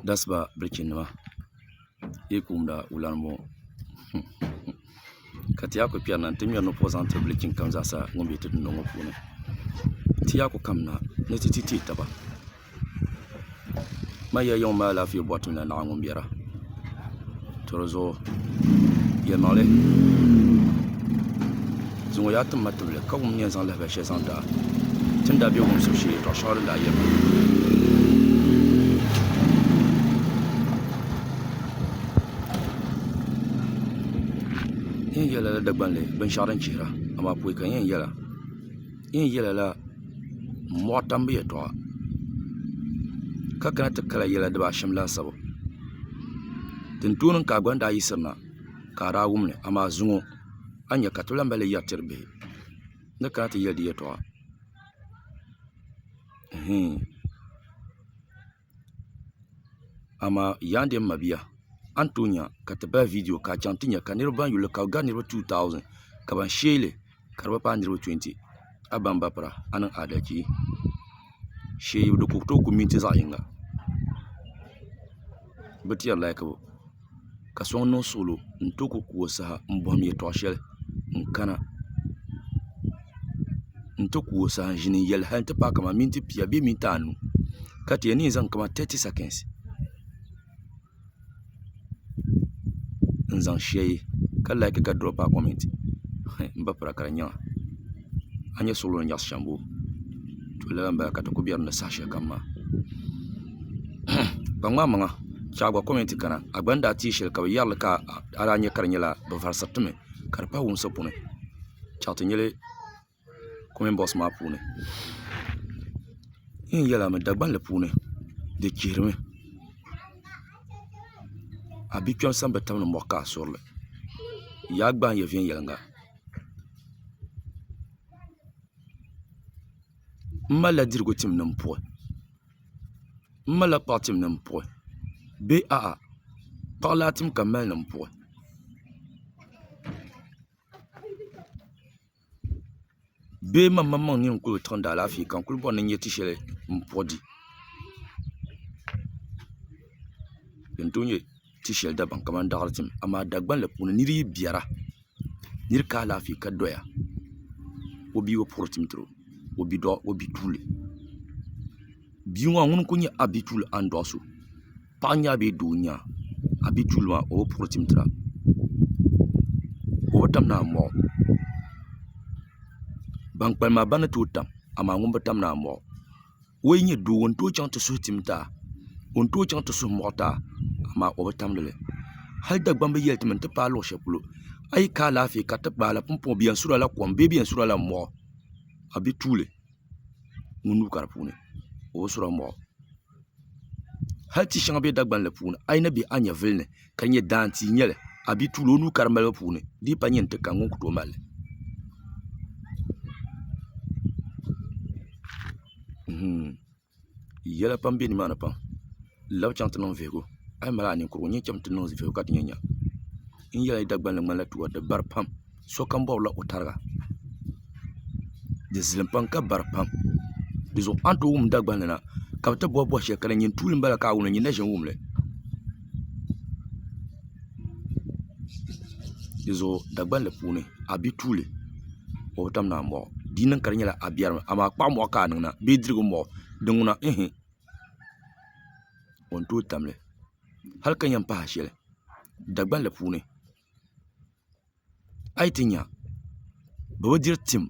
dasiba bilichi nima yi yi kumda wulan n bɔŋɔ ka ti yaa ku kpɛri na n ti ŋmɛri napoŋ zaŋ tiri bilichi kam zaa sa ŋun bɛ ti dundɔŋ ŋɔ puuni ti yaa ku kamina ni ti ti teei taba ma yɛlimaŋli maa alaafee bɔri ti mi la naɣa ŋɔ n bɛra to di zuɣu yɛlimaŋli di ŋɔ yaa tim ma tibili ka wum ni yɛn zaŋ lahabali shɛli zaŋ daai ti ni daa bɛ wumsim shee yɛtɔɣ shɛŋa din daa yɛrina n yɛn yɛli lala Dagbanli binshɛɣu din chihira amaa pɔi ka n yɛn yɛla Yin yela la m mɔɣi tambu yɛtɔɣa ka kana ti kala yela diba ashɛm laasabu din tooi niŋ ka a gba ni daa yiɣisiri na ka a daa wum li amaa zuŋɔ a ni nya ka ti lahi mali li yɛri tiri bihi ni kana ti yeli di yɛtɔɣa. Amaa Yandi n mabia a ni tooi nya ka ti bahi viidiyo ka a chaŋ ti nya ka niriba ban yuli ka bɛ gari niriba 2000 ka ban sheeli ka di bi paai niriba 20 a baŋ ba pira a niŋ adalchi sheei di ku tooi ku minti zaɣa yinga bɛ ti yɛri lahikibu. ka so ŋun niŋ suɣulo n ti ku ka o saha n bɔhim yɛltɔɣa shɛli n kana n ti ku o saha n ʒini n yɛli hali n ti paai kamani miniti pia bee miniti anu ka ti yɛn niŋ zaŋ kamani tɛti sakɛs n zaŋ shɛli ka laaki ka dirɔpi a kɔmɛnti n ba pira ka di nyaŋ a. a ni nyɛ suɣulo ni nyaɣasi shɛmbu to lala n bala ka ti ku biɛri ni saha shɛli kam maa ka ŋmaai maŋa ka a gba kɔmɛnt kana a gba ni daa tee shɛli ka bi yɛrili ka a daa nyɛ ka di nyɛla bi varisiri ti mi ka di pali wumsi puuni ka ti nyɛli kɔmɛnt bɔks maa puuni n ni yɛli a mi dagbanli puuni di chihirimi a bia kpɛm sani bi tam ni mɔɣu ka a surili yaa gbaai n yɛn viɛnyɛlinga n malila dirigu tim ni n puhi n malila kpaɣu tim ni n puhi bee a'a kpaɣu laa tim ka n mali ni n puhi bee man maŋmaŋ n ni yɛn kuli tiɣindi alaafee ka n kuli bɔri ni n nyɛ ti shɛli n puhi di ti shɛli dabam kamani daɣiri tim amaa Dagbani la puuni nir yi biɛra nir ka alaafee ka doya o bia bi puɣiri tim tiri o bituuli bia ŋɔ ŋuni n-kuli nyɛ a bituuli a ni dɔɣi so paɣa n-nyɛ a bee doo n-nyɛ a a bituuli maa o bi puɣiri tim tiri a ka o tam ni a mɔɣi o ban kpalim maa bana n-tooi tam amaa ŋuni bi tam ni a mɔɣi o o yi nyɛ doo n tooi chaŋ ti suhu tim taa o ni tooi chaŋ ti suhu muɣi taa amaa o bi tamdili hali Dagbaŋ bi yɛli ti mi n ti paai luɣu shɛli polo a yi ka alaafee kariti gbaala pumpɔŋɔ bee yɛn surila kom bee bi yɛn surila mɔɣu a bi tuuli ŋun nuu ka di puuni o bi sura mɔɣu hali tia shɛŋa bɛ Dagbaŋ puuni a yi na bɛ a nyɛvuli ni ka nyɛ daani tia n nyɛli a bia tuuli o nuu ka di malibu puuni di yi pa nyɛ n ti ka ŋun ku tooi malli yɛla pam bɛ nimaani pam n labi chɛŋ ti niŋ vihigu a yi mali a ninkurigu n yɛn chɛŋ ti niŋ vihigu ka ti nyɛ nyɛm n yɛli a yi Dagbanli ŋmanila tiwa di bari pam sokam bɔbila o tariga di zilim pam ka bara pam di zuɣu a ni tooi wum Dagban ni na ka bi ti bɔhi bɔhi shɛli ka di nyini tuuli n bala ka a wum li nyini na ʒini n wum li di zuɣu Dagbanli puuni a bɛ tuuli o bi tam naan bɔɣu di yi niŋ ka di nyɛla a biɛri mi amaa kpaɣu mɔɣu ka a niŋ na bee dirigu mɔɣu din ŋuna ihi o ni tooi tam li hali ka yɛn pahi a shɛli Dagbanli puuni a yi ti nya bɛ bi diri tim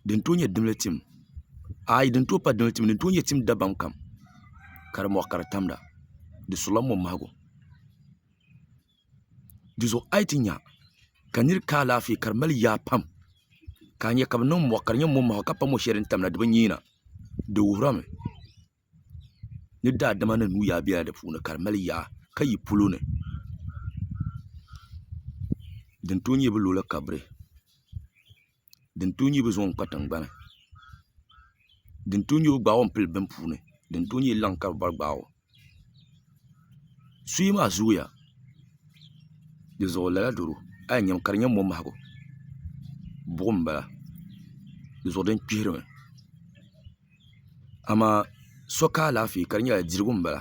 din tooi nyɛ dimli tim aai din tooi pa dimli tim din tooi nyɛ tim dabam kam ka di mɔɣu ka di tamda di sula mɔmahigu di zuɣu a yi ti nya ka nira ka alaafee ka di mali yaa pam ka a nya ka bɛ niŋ mɔɣu ka di nyɛ mɔmahigu ka pa mɔ shɛli din tamda di bi nyiina di wuhirimi ni daadama ni nuu yaa bela di puuni ka di mali yaa ka yi polo ni din tooi nyɛ bi lo la kabiri din tooi nyɛ bi zaŋ kpa tingbani din tooi nyɛ bi gbaagi o pili bini puuni din tooi nyɛ laŋ ka bi bɔri gbaagi o. suyi maa zooya di zuɣu lala doro a yi nyami ka di nyɛ momahigu buɣum n bala di zuɣu din kpihirimi amaa so ka alaafee ka di nyɛla dirigu n bala